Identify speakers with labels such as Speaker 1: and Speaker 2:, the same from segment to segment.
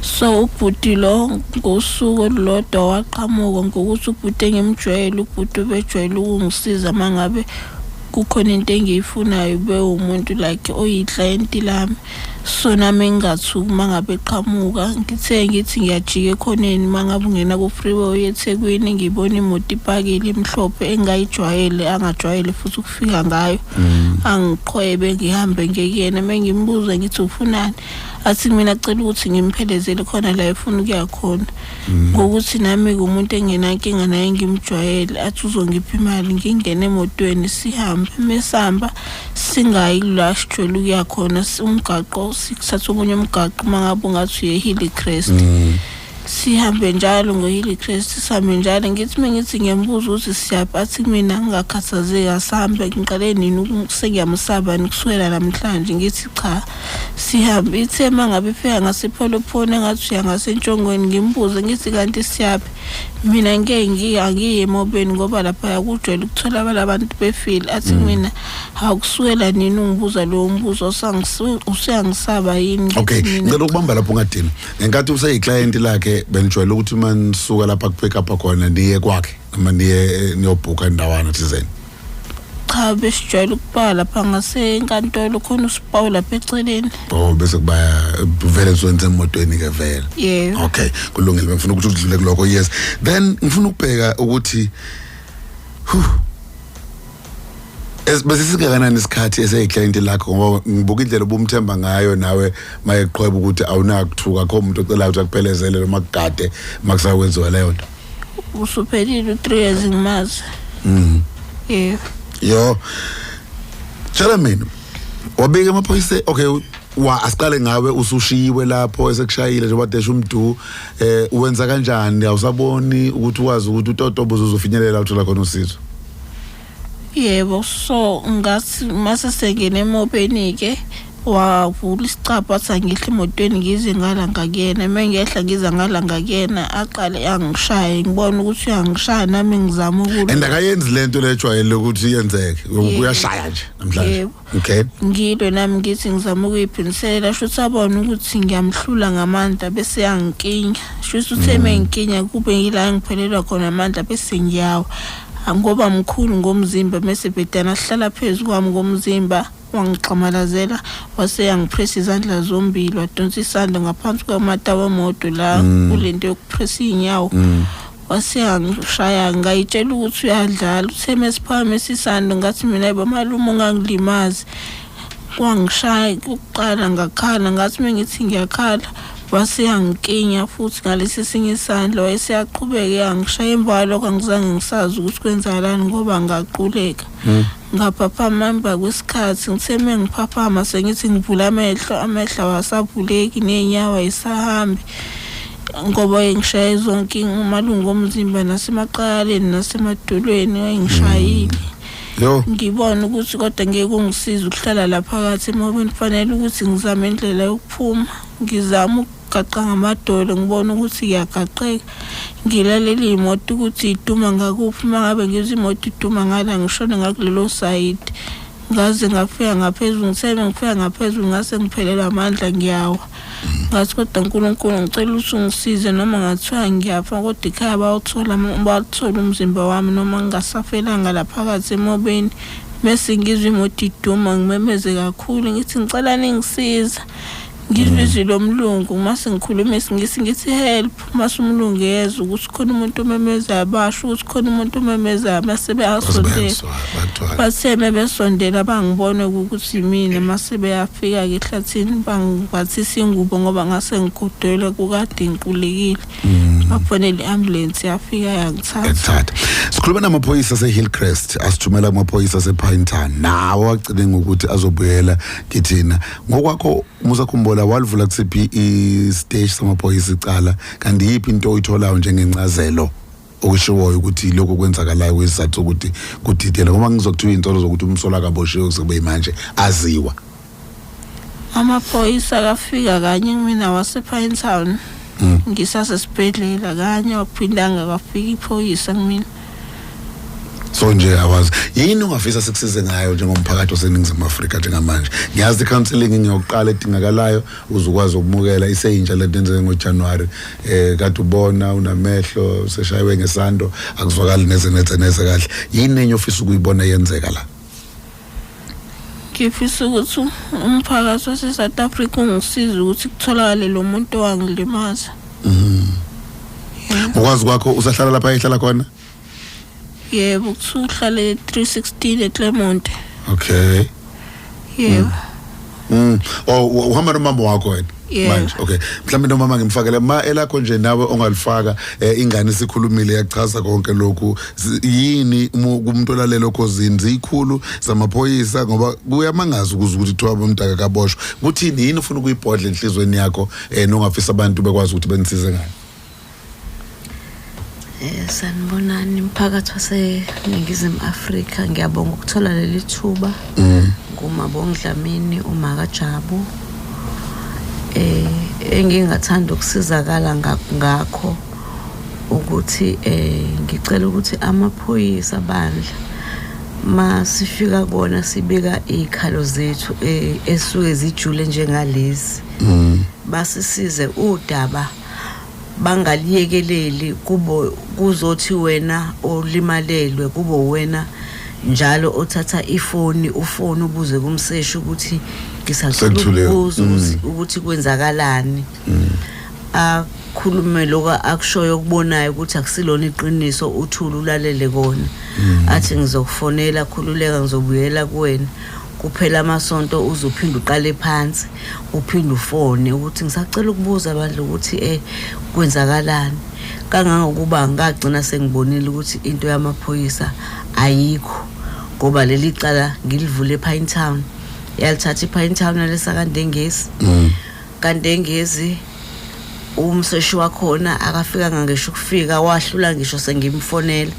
Speaker 1: so ubhuti lo ngosuku olulodwa waqhamuka ngokuthi ubhuti engimjwayele ubhuti ubejwayele ukungisiza uma ngabe kukhona into engiyifunayo bewumuntu like oyiklayenti lami so nami ngingathuki uma ngabe qhamuka ngithe ngithi ngiyajika ekhoneni uma ngabe ungena ku-freeway oye ethekwini ngibona imoto ipakile imhlophe engingayijwayele angajwayele futhi ukufika ngayo mm. angiqhwebe ngihambe ngekuyena uma ngimbuza ngithi ufunani athi mina cela ukuthi ngimphelezele khona la efuna ukuya khona mm. ngokuthi nami kumuntu engenankinga naye ngimjwayele athi uzongipha imali ngingene emotweni sihambe mesihamba singayi la sijwele ukuya khona umgaqo sikuthatha omunye umgaqo uma ngabe ungathi uyehile icrest mm. sihambe njalo ngoyile kristu sihambe njalo ngithi uma ngithi ngiyambuza ukuthi siyaphi athi kumina ngingakhathazeki asihambe ngiqale nini sengiyamusaba yini kusukela namhlanje ngithi cha sihambe ithe uma ngabe ifika ngasepholophono engathi uya ngasentshongweni ngimbuze ngithi kanti siyaphi mina ngeke angiye emobeni ngoba lapha yakujwayele ukutholakala abantu befile athi mm. mina awukusukela nini ungibuza lowo mbuzo usuyangisaba yini okay ngicela ukubamba
Speaker 2: lapho ungadini ngenkathi useyiclient lakhe benijwayele ukuthi uma nisuka lapha kupick up khona niye kwakhe noma niye eh, niyobhukha indawana thizeni cha
Speaker 1: besijwayele ukuba lapha ngasenkantolo khona usibawu lapha eceleni oh bese kuba
Speaker 2: vele sonke emotweni ke vele yes okay
Speaker 1: kulungile
Speaker 2: bengifuna ukuthi udlule kuloko yes then ngifuna ukubheka ukuthi huh, besisingakanani isikhathi eseyiclient lakho ngoba ngibuka indlela obumthemba ngayo nawe mayeqhweba ukuthi awunakuthuka kho umuntu ocela ukuthi akuphelezele noma kugade makusakwenziwa leyo nto usuphelile
Speaker 1: u3 years ngimazi mhm yeah yo
Speaker 2: tshela mina wabika amaphoyisa okay wa asiqale ngawe usushiyiwe lapho esekushayile njengoba desha umdu eh uwenza kanjani awusaboni ukuthi wazi ukuthi utotobo uzofinyelela uthola khona usizo
Speaker 1: yebo so ngathi mase sengene emobeni ke wavula isicabha sangihla emotweni ngize ngala ngakuyena uma ngehla ngiza ngala ngakuyena aqale angishaye ngibona ukuthi uyangishaya nami ngizama ukula and akayenzi lento
Speaker 2: lejwayele ukuthi yenzeke uyashaya nje namhlanje yebo okay ngilwe nami
Speaker 1: ngithi ngizama ukuyiphindiselela shuthi abone ukuthi ngiyamhlula ngamandla bese yangikinya shuthi uthe mm. mengikinya kube yila ngiphelelwa khona amandla bese ngiyawa ngoba mkhulu ngomzimba mese bhedana sihlala phezu kwami ngomzimba wangixamalazela wase yangipressa izandla zombili wadonsa isandla ngaphansi kwamata wemoto la mm. kule nto yokupressa iy'nyawo mm. wasiyangishaya ngayitshela ukuthi uyadlala uthe mesiphakame sisando ngathi mina bamalume ungangilimazi wangishaya kuqala ngakhala ngathi uma ngithi ngiyakhala waseyangikinya futhi ngalesi sinye isandla wayeseyaqhubeka yangishaya emva kwalokho angizange ngisazi ukuthi kwenzakalani ngoba ngaquleka hmm. ngaphaphama emva kwesikhathi ngithe uma ngiphaphama sengithi ngivula amehlo amehlo awasavuleki ney'nyawo ayisahambi ngoba engishaye zonke umalungu omzimba nasemaqaleni nasemadolweni ayengishayile mm. ngibona ukuthi kodwa ngeke ungisize ukuhlala la phakathi emobeni kufanele ukuthi ngizame indlela yokuphuma ngizame gaqa ngamadolo ngibona ukuthi ngiyagaqeka ngilalele imoto ukuthi iduma ngakuphi uma ngabe ngizwa imoto iduma ngala ngishone ngakulelo sayidi ngaze ngafika ngaphezulu ngisebe ngifika ngaphezulu ngase ngiphelelwa amandla ngiyawa ngathi kodwa nkulunkulu ngicela ukuthi ungisize noma ngathiwa ngiyafa kodwa ikhaya bawuthola bawuthola umzimba wami noma ngingasafelanga laphakathi emobeni mese ngizwa imoto iduma ngimemeze kakhulu ngithi ngicela ningisiza ngizwizwi lomlungu uma sengikhuluma isingisi ngithi help uma sumlungu yezwa ukuthi khona umuntu omemezayo basho ukuthi khona umuntu omemezayo mase beyasondela bathe mebesondela bangibone ukuthi yimina mase beyafika-ke ehlathini bangiphathisa ingubo ngoba ngase ngigodwele kukade ngiqulekile mm. bafonele i-ambulensi yafika yangithatha sikhuluma
Speaker 2: namaphoyisa ase-hillcrest asithumela kumaphoyisa asepinetown nawo agcine ngokuthi azobuyela kithina ngokwakho musa khumbula walivula kusiphi isiteshi samaphoyisa icala kanti yiphi into oyitholayo njengencazelo okushiwoyo ukuthi lokho kwenzakalayo kwesizathu ukuthi kudidele ngoba ngizokuthiwa iy'nsolo zokuthi umsola kaboshiwe kuzobe yimanje aziwa amaphoyisa
Speaker 1: akafika kanye mina wasepine town mm. ngisasesibhedlela kanye waphindanga kwafika iphoyisa kumina so
Speaker 2: nje awazi yini ungafisa sikusize ngayo njengomphakathi oseningizimu afrika njengamanje ngiyazi i-counseling ngiyokuqala edingakalayo uzukwazi ukumukela iseyintsha le nto enzeke ngojanuwari um eh, kade ubona unamehlo seshaywe ngesando akuzwakali neze neze neze kahle yini enye ofisa ukuyibona yenzeka la ngifisa
Speaker 1: ukuthi umphakathi wase-south africa ungisize ukuthi kutholakale lo muntu owangilimaza mhm.
Speaker 2: ngokwazi kwakho usahlala lapha ehlala khona
Speaker 1: yebo kuthiwa uhlale 316 eclermont okay yebo mm. Mm.
Speaker 2: Oh, u- uhamba nomama wakho wena Yeah. manje. Okay. Mhlambe nomama ngimfakele ma elakho nje nawe ongalifaka eh, ingane sikhulumile yachaza konke lokhu Z- yini umu- kumuntu olalela okhozini zikhulu zamaphoyisa ngoba kuyamangaza ukuze ukuthi thiwa bomdaka kaboshwa. Kuthini yini ufuna ukuyibhodla enhlizweni yakho eh nongafisa abantu bekwazi ukuthi benisize ngani?
Speaker 3: Eh, sanibonani mphakathi waseningizimu afrika ngiyabonga ukuthola leli thuba mm. ngumabongidlamini umakajabu um eh, engingathanda ukusizakala ngakho ukuthi um ngicela ukuthi amaphoyisa bandla ma sifika kona sibika iy'khalo zethu esuke zijule njengalezi mm. basisize udaba um bangaliyekeleli kubo kuzothi wena olimalelwe kubo wena njalo othatha ifoni ufoni ubuze kumseshi ukuthi Sekuthulile. ngisazolubuza ukuthi- ukuthi kwenzakalani akhulume lokho akushoyo okubonayo ukuthi akusilona iqiniso uthule ulalele kona athi ngizokufonela khululeka ngizobuyela kuwena kuphela amasonto uze uphinde uqale phansi uphinde ufone ukuthi ngisacela ukubuza bandla ukuthi eh kwenzakalani kangangokuba ngagcina sengibonile ukuthi into yamaphoyisa ayikho ngoba leli cala ngilivule ePine Town yalithatha iPine Town yalesa kaNdengezi mm. kaNdengezi umseshi wakhona akafika ngisho ukufika wahlula ngisho sengimfonela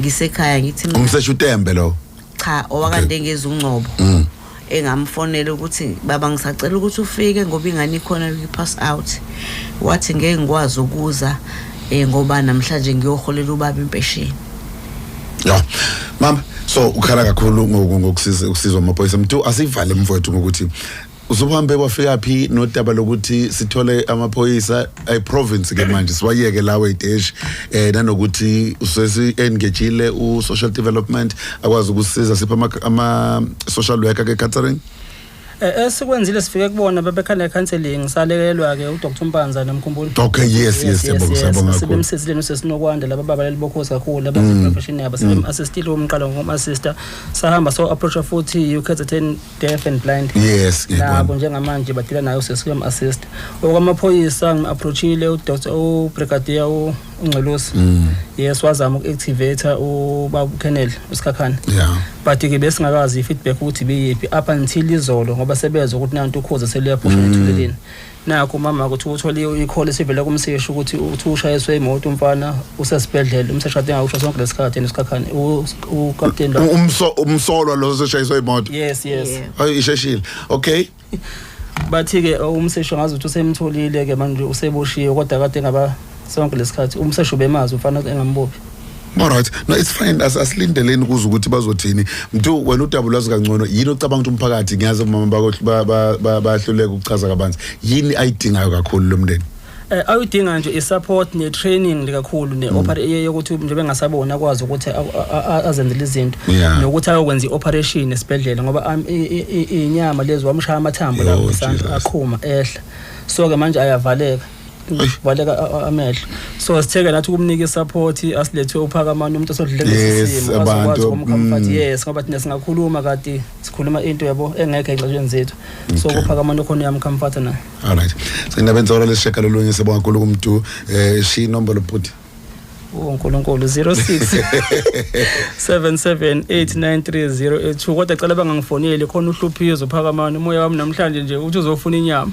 Speaker 3: ngisekhaya ngithi umseshi uTembe lo
Speaker 2: cha
Speaker 3: owakandengeza ungcobo mm. engamfonela ukuthi baba ngisacela ukuthi ufike ngoba ingane ikhona uyi-pass out wathi ngeke ngikwazi ukuza um ngoba namhlanje ngiyoholela ubaba impesheni ya
Speaker 2: mama so ukhala kakhulu ngokusizwa amaphoyisa mntu asiyivale mfowethu ngokuthi usuhambe wafika phi nodaba lokuthi sithole amaphoyisa ay province ke manje siwayeke lawe ideshi eh nanokuthi usesi engagile u social development akwazi ukusiza sipha ama social worker ke catering eh, eh
Speaker 4: sikwenzile sifike kubona bebekhala counseling salekelwa ke uDr Mpanza nemkhumbulo okay yes yes
Speaker 2: siyabonga siyabonga kakhulu sibemsizile nosesinokwanda
Speaker 4: laba baba lelibokhosi kakhulu abazi mm. profession yabo mm. assistil umqala ngoma sister sahamba so approach futhi you can deaf and blind yes nabo
Speaker 2: njengamanje
Speaker 4: badila nayo sesiyom assist okwamaphoyisa ngiapproachile udr ubrigadier ungcelosi mm. yes wazama uku-activator ubaba ukenel usikhakhane but-ke besingakazi i-feedback ukuthi biyiphi up until izolo ngoba sebezwa ukuthi nanto ukhozi seliyaphushwa mm. ethuleleni nakho umama ukuthi uthole ikhole sivele kumsisho ukuthi uthi ushayiswe imoto umfana usesibhedlela umseshade ngakusho sonke lesikhathi nesikhakhane ukapteni la umso umsolwa lo
Speaker 2: seshayiswe imoto yes yes ayi
Speaker 4: isheshile
Speaker 2: okay bathi
Speaker 4: ke umsisho ngazi ukuthi usemtholile ke manje useboshiwe kodwa kade ngaba sonke lesikhathi umseshi ubemazi umfana engambophi All right.
Speaker 2: No it's fine as asilindeleni kuze ukuthi bazothini. Mthu wena udabu lwazi kangcono yini ocabanga ukuthi umphakathi ngiyazi umama bako bahluleka ukuchaza kabanzi. Yini ayidingayo kakhulu lomndeni? Eh awudinga nje
Speaker 4: i-support ne-training likakhulu ne-operation mm. yokuthi njengoba engasabona akwazi ukuthi azenzele izinto nokuthi ayokwenza i-operation esibhedlela ngoba inyama lezi wamshaya amathambo lapho isandla aqhuma ehla so ke manje ayavaleka waleka amehlo so sitheke nathi ukumnika isupport asilethe uphakamana umuntu osodlule ngesimo azokwazi ukumcomfort mm. yes ngoba thina singakhuluma kade sikhuluma into yabo engekho enxesheni zethu so kuphakamana khona uyamcomfort naye all right sendaba
Speaker 2: enzolo lesisheka lolunye sibonga kulo kumuntu eh shi inombolo bhuti uNkulunkulu
Speaker 4: 06 7789308 kodwa cela bangangifoneli khona uhluphizo phakamani umoya wami namhlanje nje uthi uzofuna inyama